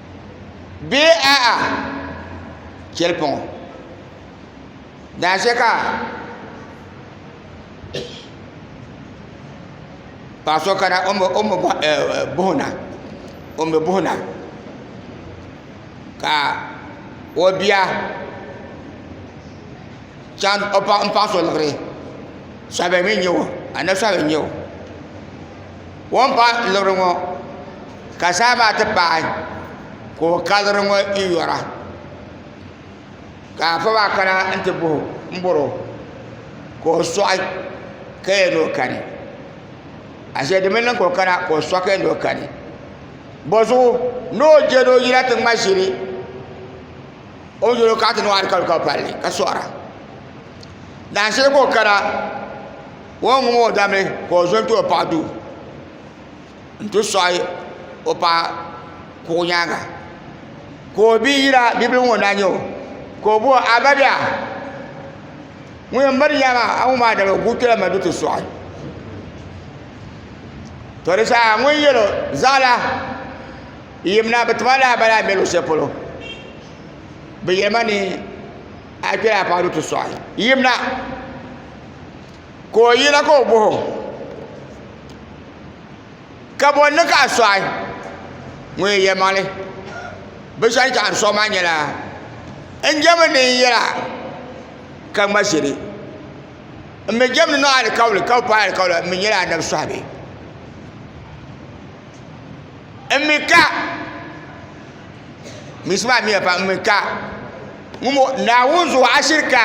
bee a'a cheli pɔŋɔ daashee ka paɣa so kana o mi buɣi na ka o bia chaŋ m paɣi so liɣiri sabi mi n nyɛ o anabi sabi n nyɛ o. o ni bahi luri ŋo ka zaham maa ti paai ka o ka luri ŋo n yora ka afa maa kana n ti boho n boro ka o soɣi ka yɛn ni o kani ashee di mii niŋ ka o kana ka o soɣi ka yɛn ni o kani bozuɣu ni o je ni o yina ti ŋma ʒili o ni yuli kana ti niŋ o alikawali ka o palli ka soɣara daashee ka o kana o yɛn ŋum o dami ka o zo n ti o paɣa duu n ti soɣi o paɣa kuɣu nyaanga ka o bia yira bibil ŋɔ na nyɛ o ka o boo a ba bɛɣu ŋun yɛn miri nya maa a ŋɔ maa dama guui kpɛla ma ni ti soɣi to di zaa ŋun yɛlo zaɣala yimina bi ti ma laa bala a ni bɛ luɣu shɛli polo bi yɛli ma ni a kpɛla a paɣa ni ti soɣi yimina ka o yina ka o bohi o ka bɔ ni ka a sɔɣi ŋun yɛn yɛlimaŋli bi shɛli ka a ni sɔɣi maa nyɛla n jɛmi ni n yɛra ka ŋma shili n mi jɛmi ni n niŋ alikauli ka bi paai alikauli n mi nyɛla anabi sɔhibi n mi ka misi maa miya pam n mi ka Naawuni zuɣu ashirika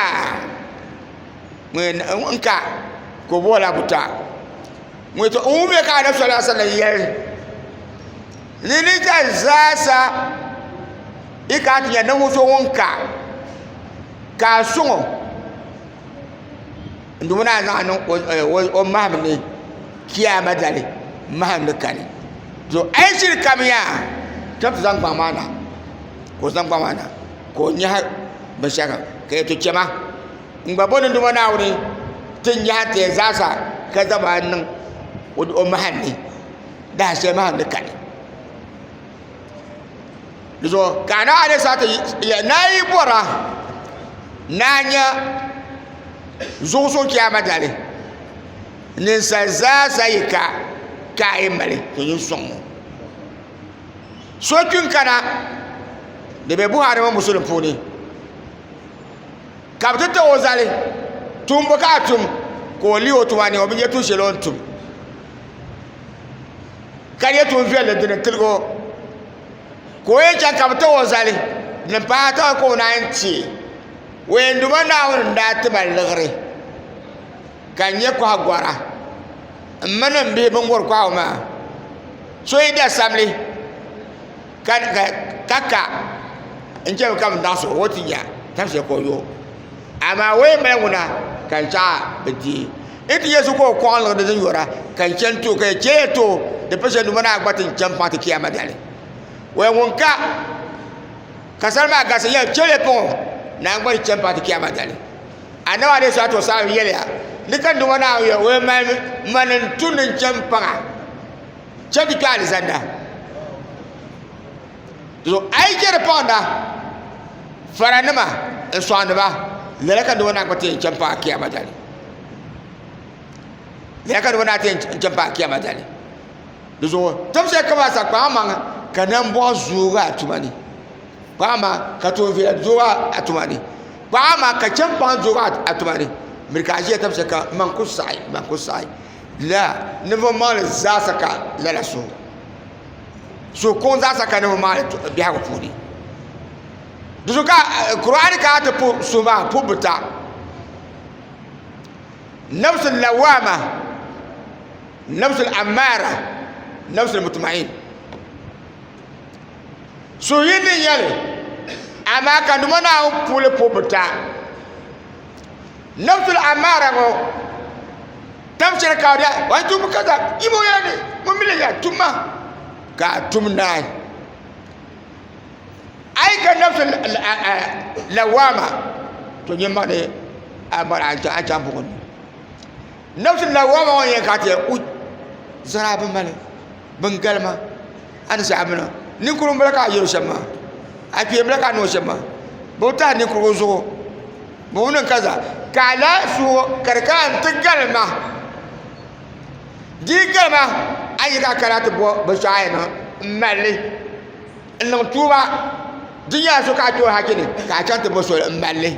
ŋun ka ka o boola buta ŋun yɛtɔ n wumya ka anabi sallallahu alaihi wasallam yɛli ni ni ka zaasa i ka ti nyɛ ninvuɣu so ŋun ka ka a suŋo n duɣu naa zaŋ niŋ o maham ni kiyaama dali maham ni kani to a yi shiri kam yaa tini ti zaŋ gbaŋ maa na ka o zaŋ gbaŋ maa na ka o nyaɣi binshɛɣu ka yɛto chɛma n gba bɔni duma Naawuni ti nyaɣi ti yɛn zaa sa ka zaŋmi a niŋ o mahali ni dahin shɛli mahali ni kani di zuɣu ka a naai alesa ti yɛli ni a yi bɔra ni a nya zuɣu so chaama dali ninsali zaa sa yi ka ka a yi mali ka o nyin sɔŋ o so kpi n kana di bɛ buhari mini musulim puuni ka bi ti too o zali tumbu ka a tum ka o lihi o tuma ni o bi nyɛ tuun shɛli o ni tum ka nyɛ tuun viɛlli dini tiligi o ka o yɛn chɛŋ ka bi too o zali ni paai taba ka o naan chɛ o yɛn duma naawuni n daa ti mali liɣiri ka n nyɛ koha gora n mini n bihi bin wori kohagu maa so yi da sabili ka ka n chɛmi ka bi daɣa so o ti nya tam shɛli ka o yo amaa o yɛn mali ŋuna ka n chaɣa bi dihi n ti yɛ so ka o kɔɣa n niŋdi din yora ka n chɛni too ka yɛ chɛ yɛ too di pa shɛli numa naa gba ti n chɛni paŋ ti kiyama dali o yɛn ŋun ka ka sani maa gasi yɛ chɛ yɛ paŋ naa gba ti chɛni paŋ ti kiyama dali Annabi alayhi salatu wasalam yɛliya ni ka nduma Naawuni yɛli o yɛn mali mani n tu ni n chɛ n paŋa chɛ ti kpɛ alizanda so a yi chɛ di paŋda faranima n sɔŋdiba lala ka nduma naa kpa ti yɛn chɛ n paŋa kiyama dali lala ka nduma naa ti yɛn chɛ n paŋa kiyama dali di zuɣu tibisi kama sa kpaŋa maŋa ka nambɔɣu zoogi a tuma ni Paɣa maa ka tooi viɛla duɣu atuma ni paɣa maa ka chɛŋ paŋ duɣu atuma ni miri ka a ʒiya tabi shɛli ka n ma n ku saɣi n ma n ku saɣi laa ninvuɣu maŋli zaasa ka lala suhu suhu kuŋ zaasa ka ninvuɣu maŋli biɛhagu puuni di zuɣu ka kuraani kana ti puhi suhu maa puhi bi ta nafsi lawama nafsi amaara nafsi mutmain Suhuyini ni nya li, amaa ka Duuma Naawuni puuli po bɛ ta. Nafsul Ammaara ŋɔ tam shɛli ka o daa o ni tum ka zaŋ yim o yɛla ni ŋun mi leei ya tum ma ka a tum naai. A yi ka nafsul lawaama to nyɛ ma ni a mɔri a chaŋ buɣim ni. nafsi na wa ma yin ka te u zara bin mali bin galima ani zaɣa mina ninkurum bala ka yero shema a kpe bala ka no shema bo ta ninkurum zuɣu bo wuni kaza ka la suho ka ka an ti galima di galima a yi ka kala ti bo bi shaaya na n mali n niŋ tuuba di nyɛla so ka a tooi hakini ka a chaŋ ti bo soli n mali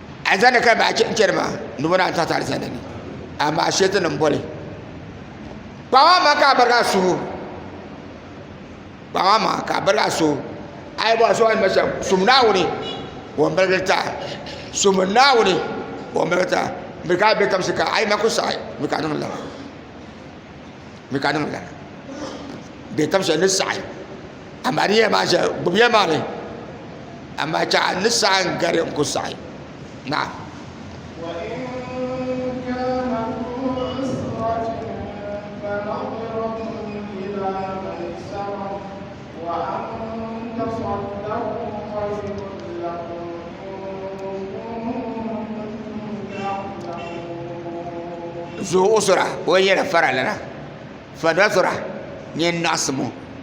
Alizanda ka baa chɛ chɛri maa ni bɔ naan taɣiti alizanda ni amaa shɛti ni m-boli kpaŋa ma ka a bariga suhu kpaŋa ma ka a bariga suhu a yi bɔhi so a ni ma shɛm sum Naawuni o ni birigiri ta sum Naawuni o ni birigiri ta mi ka a be tamsi ka a yi ma ku saɣi mi ka niŋ lana mi ka niŋ lana be tamsi ni saɣi amaa di yɛn maa shɛli gbubi yɛn maa ni amaa chɛ a ni saɣi n gari n ku saɣi naam zuɣu usura o yɛn yɛla farali na fa nasira nyɛ naɣasim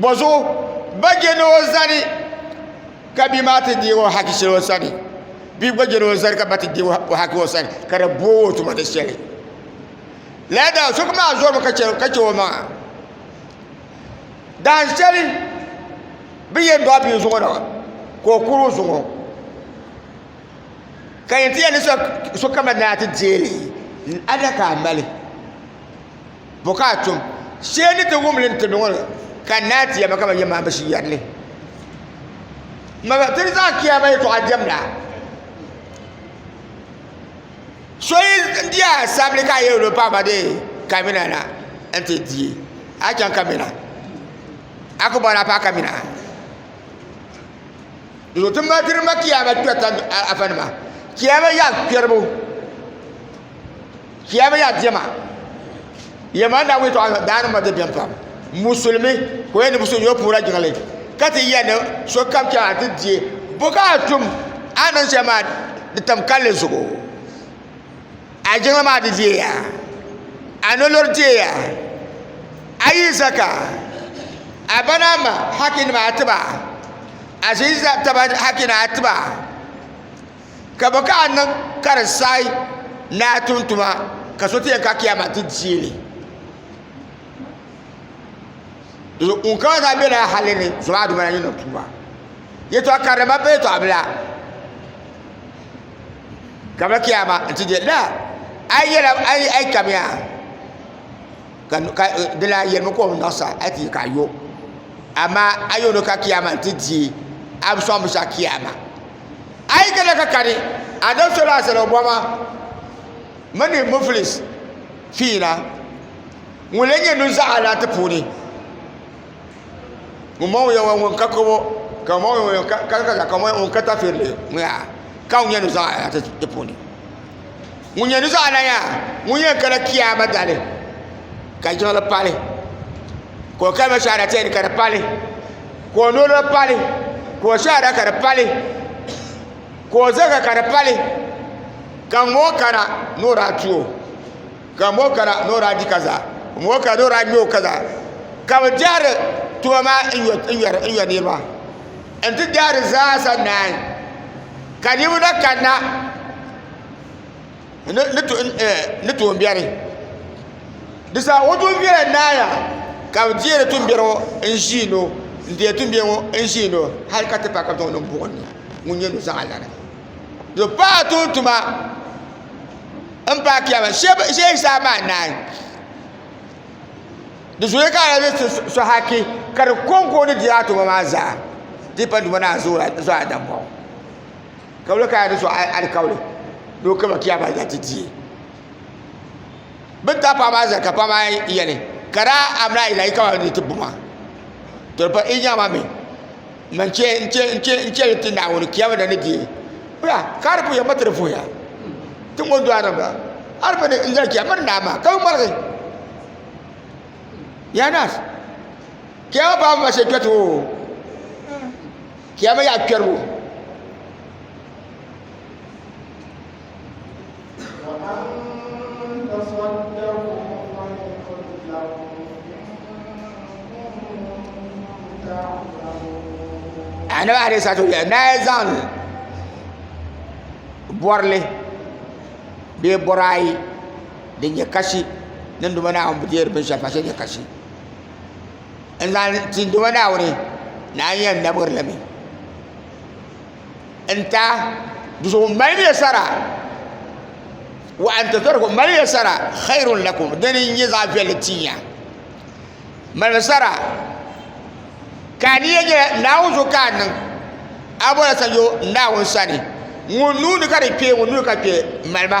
Bɔzuɣu ba je ni o zani ka bia maa ti deegi o haki shɛli o sani bia gba je ni o zani ka ba ti deegi o haki o sani ka di booi o tuma ni shɛli lala daa so maa zɔrimi ka chɛ o maŋa dahin shɛli bi yɛn dɔɣi bia zuɣu na ka o kuri o zuɣu ka yɛn ti yɛli sokam ni a ti deei li adaka a mali Bɔ ka a tum? Shee ni ti wum li ni ti niŋ li, ka n naai ti ya ma ka ma yɛn maai bishi yɛri li. Maba, ti ni zaŋ Kiyaama yɛtɔɣa diɛmda. So yi di a sabili ka a yɛn lo paɣaba de kamina na n-ti di, a chaŋ kamina. A ku bɔri a paɣa kamina. Di zuɣu ti mali diri ma Kiyaama kpɛrita afanima, Kiyaama yaɣikpɛribu. Kiya bɛ ya diɛma yɛma daa wuli tɔɣa daa ni ma di bɛn pam musulimi ko yɛ ni so yɔ puura jiŋli ka ti yɛ ni so kam chɛŋ a ti diɛ bo ka a tum a niŋ shɛli maa di tam kalli zuɣu a jiŋli maa di diɛya a nolori diɛya a yi zaka a ba naa ma haki nima a tiba a ʒi taba haki ni a tiba ka bɛ ka a niŋ ka di saai ni a tum tuma ka so ti yɛn ka Kiyaama ti deei li ŋun kana zaa bela hali ni zɔmaa duma la ni niŋ tuuma yɛtɔɣ karili mali pa yɛtɔɣ bila ka bɛ Kiyaama n-ti deei li laa a yi yɛli a yi kamiya ka di lan yɛlimi ka o ni niŋ saha a yi ti yɛ ka a yo amaa a yo ni ka Kiyaama n-ti deei a bi sɔŋ binshɛɣu Kiyaama A yi kana ka kani Adɔktɔla Azali Obɔma mini Mufilis Fiina ŋun lee nyɛ nuzaa alaati puuni ŋun mɔŋ yɛn ŋun ka kabo ka mɔŋ yɛn ŋun ka ka ka mɔŋ ŋun ka tafirili ŋun ka nyɛ nuzaa alaati puuni ŋun yɛn di zuɣu alaya ŋun yɛn kana kiyaama dali ka jiŋli pali ka o kalima shahadatain ka di pali ka o noli pali ka o shahada ka di pali ka o zaka ka di pali ka ŋun bɔŋɔ kana ni o daa tuo ka ŋun bɔŋɔ kana ni o daa di kaza ka ŋun bɔŋɔ kana ni o daa ŋmɛ o kaza ka bi dihiri tuma maa n yɔ niraba n ti dihiri zaasa naai ka niraba na kanna ni tuumbiɛri di zaa o tuumbiɛri n naai yaha ka bi deeri tuumbiɛri ŋo n ʒiindi o n deeri tuumbiɛri ŋo n ʒiindi o hali ka ti paai ka bi zaŋ o niŋ buɣum ni ŋun nyɛ nuzaa lana di paai tuun tuma n paai kpɛma shee zaa maa naai di zooya ka a lahi zaŋ so haki ka di konko ni deei a tuma maa zaa di yi pa tuma ni a zo a daŋ baŋ Kabili ka di zuɣu alikauli ni o kama kiya ba zati diye. Bin ta paɣa maa zali ka paɣa maa yɛli ka daa amina yi la yi kama ni ti buma to pa i nya ma mi ma n che n che n che n che ti naawuni kiya mi na ni diye bra ka di puya ma ti di fuya ti ŋo do anan bra ar mi ni n zali kiya mani naa ma ka bi malgi yanas kiya ma paɣa ma she kpɛti o Kiyama yaɣa kpɛribu anabi alayhi salatu wa na ya zaŋ bɔrili bee bɔri ayi din nyɛ kashi din duma naawuni bi deeri binshɛli pa shɛli nyɛ kashi n zaŋ tin duuma Naawuni ni a yɛn namgi li mi n ta di zuɣu n mali miya sara wa an tazarhu mali miya sara xayrun lakum dini n nyɛ zaɣ viɛlli tinya malimi sara ka a niya nyɛla naawuni zuɣu ka a niŋ a bɔla sanyo naawuni sani ŋun nuuni ka di kpɛ ŋun nuuni ka kpɛ malima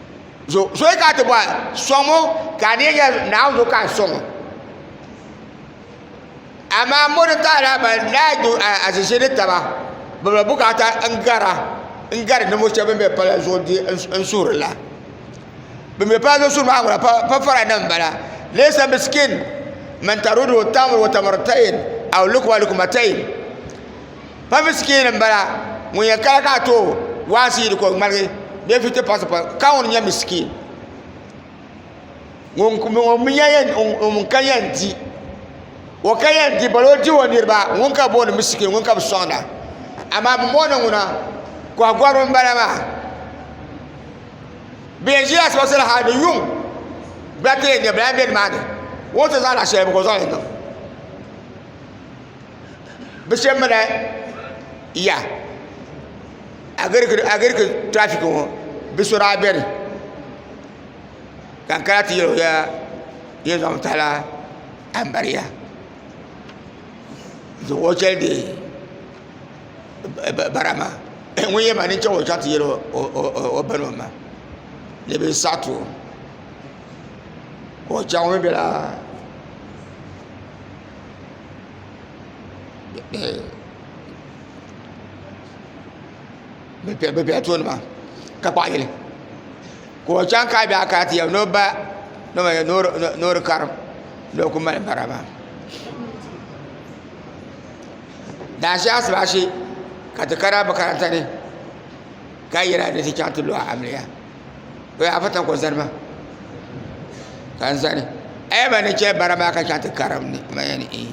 zo zoya ka ti bɔhi sɔŋ ŋɔ ka a deei yɛli naawuni zuɣu ka n sɔŋ amaa mo ni taɣara ban lahi du azizi ni taba bi bi bukaata n gara n gari ninvuɣu shɛba bin bɛ palli zuɣu n suhiri la bin bɛ palli zuɣu suhiri maa ŋuna pa fara nima n bala leesa misikin man tarudu tamru wa tamartain aw lukma lukmatain pabi sikiri n bala ŋun yɛn kala ka a too waasi yili ka o ŋmaligi bee filiti pati pati kaŋ n nyɛmi sikiri ŋun ka yɛn di o ka yɛn di balo di o niraba ŋun ka booni mi sikiri ŋun ka bi soŋda amaa bin booni ŋuna koha goribi n bala maa bi yɛn ʒila asibitin ha ni yuŋ gba ti yɛn nyɛ bala n bɛ nimaani o ni ti zaŋ laɣa shɛli bi gba zaŋ yɛn niŋ bi shɛba mi daa ya agiriki tirafiki ŋɔ bi so daa bɛni ka n kana ti yɛli o yaa yɛn zaŋ tahala ambariya n zaŋ o chɛli deei bara maa ŋun yɛn maa nini chaŋ o chaŋ ti yɛli o ba ni o ma ni bɛ saɣi ti o ka o chaŋ o mi bela. bɛ bela tooni maa ka kpahi yili ka o chaŋ ka a be a kana ti yaba ni o ba ni o di karim ni o kuli mali bara maa daashee asibaasi ka ti kana makaranta ni ka yina ni ti chaŋ ti lo a amiliya. o yaa fata ko zani maa ka n zani ɛɛ ba ni chɛ bara maa ka chaŋ ti karim ni ma yɛn ee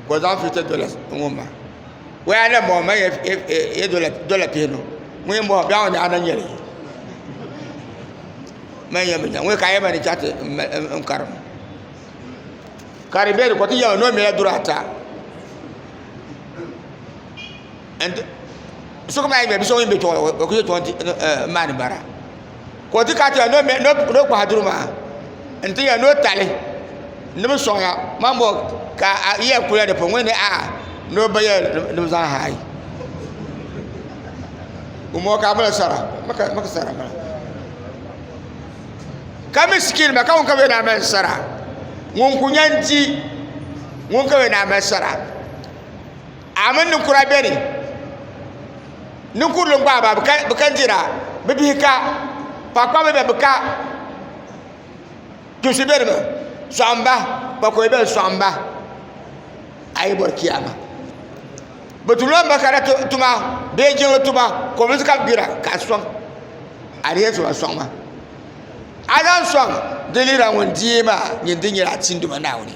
ka o zaŋ fifty dollars n ŋun ma o yaa na bɔŋɔ ma yɛ dɔla pihi niŋ ŋun yɛn bɔŋɔ biɛɣu ni a na nyɛli ma yɛn bi nya ŋun ka a yɛn ma ni chaŋ ti n karim ka di bɛ di ko ti yɛma ni o mila duri ata n ti sokam a yi nyɛ bia so ŋun bɛ tooni o ku nyɛ tooni n maandi bara ka o ti kana ti yɛli ni o kpahi duri maa n ti yɛli ni o tali ni bi soŋya mani bɔ ka a yiya kuliya di puuni ŋuni ni a ni o ba yɛli ni bi zaŋ haai o mɔɔ ka a mali sara mi ka sara bala ka miskin ba ka ŋun ka bi yɛn daa mali sara ŋun ku yɛn di ŋun ka bi yɛn daa mali sara a mini ninkura bɛ ni ninkurili gbaai ba bi ka dira bi bihi ka paɣakpabili bɛ bi ka tuunsi bɛ ni mi soɣam ba kpakoya bɛ ni soɣam ba a yi bori kiyaama bi tuɣula n ba ka di tuma bee jiŋli tuma kobirisi ka bi gbira ka a soŋ a di yɛn tuma soŋ maa a lahi soŋ di ni yɛra ŋun deei maa nyin dini nyɛla a tiinduma Naawuni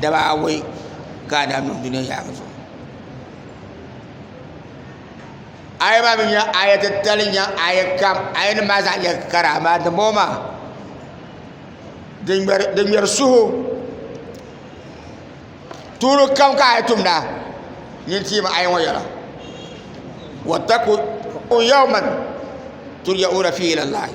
daba awɔi ka a daa niŋ dunia yaɣili zuɣu aya maa mi nyɛla aya titali n-nyɛ aya kam ayanima maa zaa nyɛla kara amaa dimbɔŋɔ maa di ŋmɛri suhu tuuli kam ka a yi tumda nyin tiimi aya ŋɔ yɛla wattaqu yawman turja'una fiihi ila llahi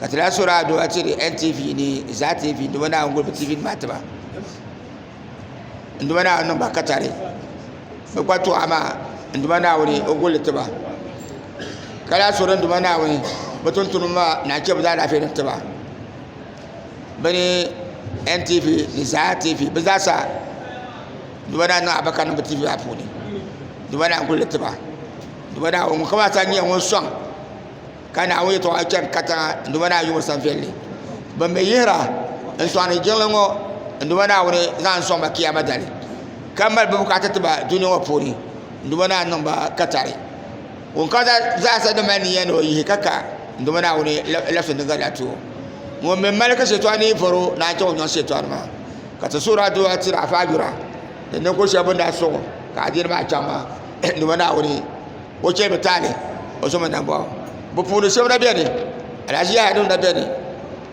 ka ti lahi sori adua tiri ntv ni zaa tv nduma naawuni guli bi tv nima tiba nduma naawuni niŋba katari bi kpa tɔɣa maa nduma naawuni o guli tiba ka lahi sori nduma naawuni bi tuntuni maa naa che bi zaa laafee ni tiba bi ni ntv ni zaa tv bi zaa sa nduma naa niŋ abaka niŋ bi tv maa puuni nduma naa n guli tiba nduma naa ŋun kama ata nyɛ ŋun sɔŋ Ka Naawuni yɛtɔɣa chani katiŋa n-duma ni a yuɣiri sanviɛlli. Bɛn mi yihira n-sɔŋdi jiŋli ŋɔ n-duma Naawuni zaŋ n-sɔŋ ba Kiyaama dali, ka mali bɛ bukaata ti ba dunia ŋɔ puuni n-duma ni a niŋ ba katari. Ŋun kam zaasa din mali niya ni o yihi ka ka n-duma Naawuni labisindi n-gari ya ti o. Ŋun mi mali ka Shɛtɔɣu ni yi vɔr o ni a chaŋ o nyɔŋ Shɛtɔɣu nima. Ka ti suhir a dunia tiri a faayura ni ninvuɣ shɛba bɛn daa suɣ ka adiini maa chaŋ maa n-duma Naawuni. o chɛ bi taani o zoma nambɔɣu bi puuni shɛba na bɛni alahaji nima na bɛni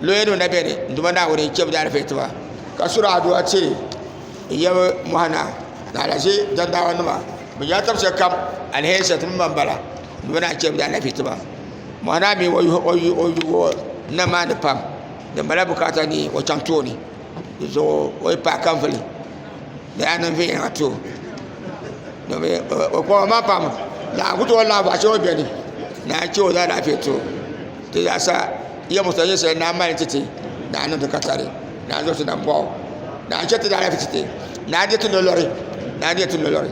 lɔya nima na bɛni n duma naawuni n chɛbi daalifɛn tiba ka suri adua ti yabi mɔɣu na ni alahaji dagbamba nima bi yɛla tabi shɛli kam alihɛri shɛli ti ni ma n bala n duma naa n chɛbi daalifɛn tiba mɔɣu naa mi o nam maa ni pam din mali la bukaata ni o chaŋ tooni. di zuɣu o yi pahi ka vuli di yaa niŋ viɛnyɛla too o koma maa pam naa n ku tooi laɣam bahi chɛŋ o biɛni naa n chɛ o zaalahiƒɛ too di zaasa yiya mosina nyɛ shɛli naa mali titi naa n niŋdi katari naa n zaŋ sona boɣu naa n chɛ ti zaalahiƒi chɛ ti naa n di ti nolori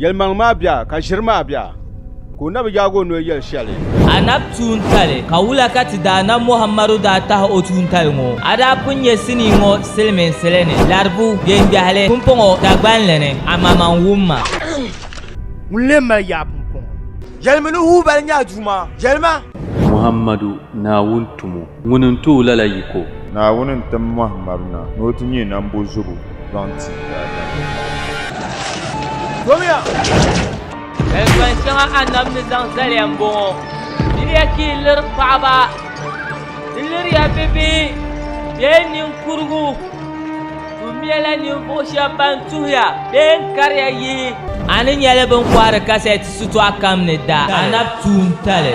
Yɛlimaŋli maa bɛ a, ka ʒiri maa bɛ a, ka o na bi yaag o noli yɛli shɛli. A nab tuuntali ka wula ka ti daa na Muhammadu daa tahi o tuuntali ŋɔ? A daa pun nyɛ sinii ŋɔ siliminsili ni, laribu, geengbɛhili, pumpɔŋɔ, Dagbani ni, amaman wumma. Ŋun lee mali yaɣ pumpɔŋɔ? Yɛlimi ni Hubal nyɛ a Duuma, yɛlima. Muhammadu, Naawuni tumo. Ŋuni n-tooi lala yiko? Naawuni n-tim mɔhi mab na ni o ti nyɛ nambo zubu zaŋ ti daadam. Yɛltɔin shɛŋa Annabi ni zaŋ zaliya m-bɔŋɔ, Diriya ka yi liri paɣiba, di liriya bibihi bee niŋkurugu, tuhumiɛla ninvuɣu shɛba ban tuhiya bee n-kariya yihi. A ni nya li bɛ ni kɔhiri kasɛt shitɔɣu kam ni daa Annabi tuuntali.